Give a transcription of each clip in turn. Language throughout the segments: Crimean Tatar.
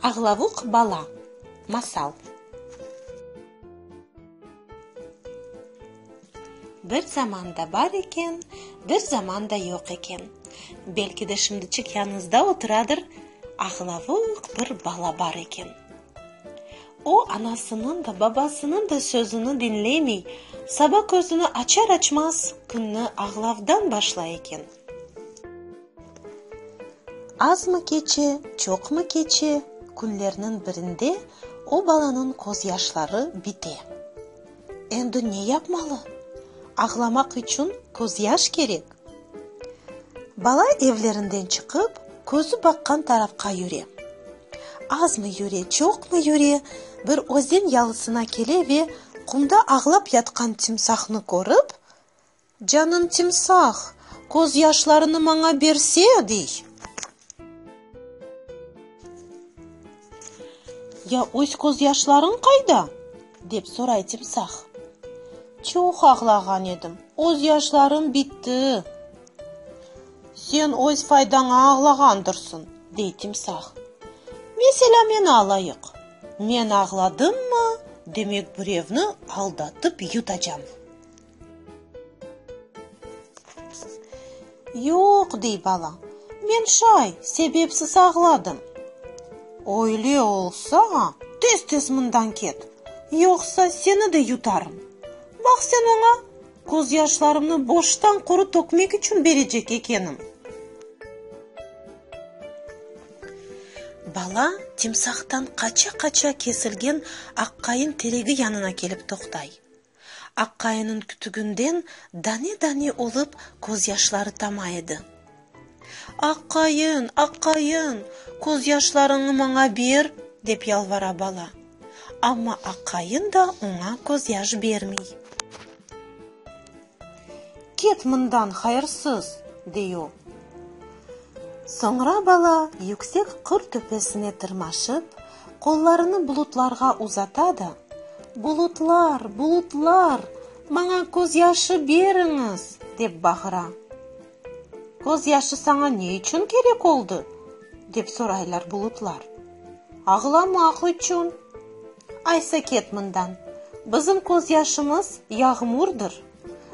Ağlavuq bala. Masal. Bir zaman da bar eken, bir zaman da yoq eken. Belki de şimdi çıqyanıñızda oturadır, ağlavuq bir bala bar eken. O, anasınıñ da, babasınıñ da sözüni diñlemey, saba közüni açar-açmaz künni ağlavdan başlay eken. Azmı keçe, çoqmı keçe, künlerniñ birinde o balanıñ közyaşları bite. Endi ne yapmalı? Ağlamaq içün közyaş kerek. Bala evlerinden çıqıp, közü baqqan tarafqa yüre. Azmı yüre, çoqmı yüre, bir özen yalısına kele ve qumda ağlap yatqan timsahnı körip, Canım timsah, közyaşlarını maña berse! dey. Ya öz közyaşlarıñ qayda? dep soray timsah. Çoq ağlağan edim, öz yaşlarım bitti. Sen öz faydaña ağlağandırsıñ, dey timsah. Meselâ, meni alayıq, men ağladımmı, demek birevni aldatıp yutacam. Yoq, dey bala, men şay, sebepsiz ağladım. Öyle olsa, tez-tez mından ket, yoqsa seni de yutarım. Baq, sen oña közyaşlarımnı boştan quru tökmek içün berecek ekenim. Bala timsahtan qaça-qaça kesilgen aqqayın teregi yanına kelip toqtay. Aqqayınıñ kütüginden dane-dane olıp közyaşları tama edi. Aqqayın, aqqayın, közyaşlarıñnı maña ber! dep yalvara bala. Amma aqqayın da oña közyaş bermey. Ket mından, hayırsız! dey o. Soñra bala yüksek qır töpesine tırmaşıp, Qollarını bulutlarğa uzata da, Bulutlar, bulutlar, maña közyaşı beriñiz! dep bağıra. Közyaşı saña ne içün kerek oldı? dep soraylar bulutlar. Ağlamaq içün. Aysa ket mından, bizim közyaşımız yağmurdır.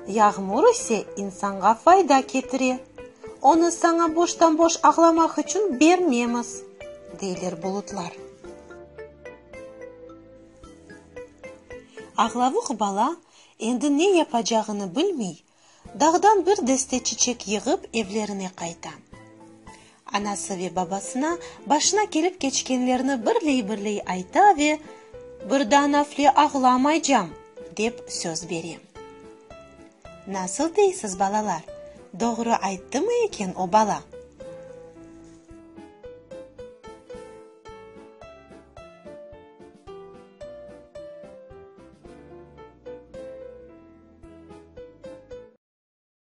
Yağmur ise insanğa fayda ketire, onı saña boştan-boş ağlamaq içün bermemiz, deyler bulutlar. Ağlavuq bala endi ne yapacağını bilmey, dağdan bir deste çiçek yığıp evlerine qayta. Anası ve babasına başına kelip keçkenlerni birley-birley ayta ve birdan afle ağlamaycam, dep söz bere. Nasıl deysiz, balalar, doğru ayttımı eken o bala?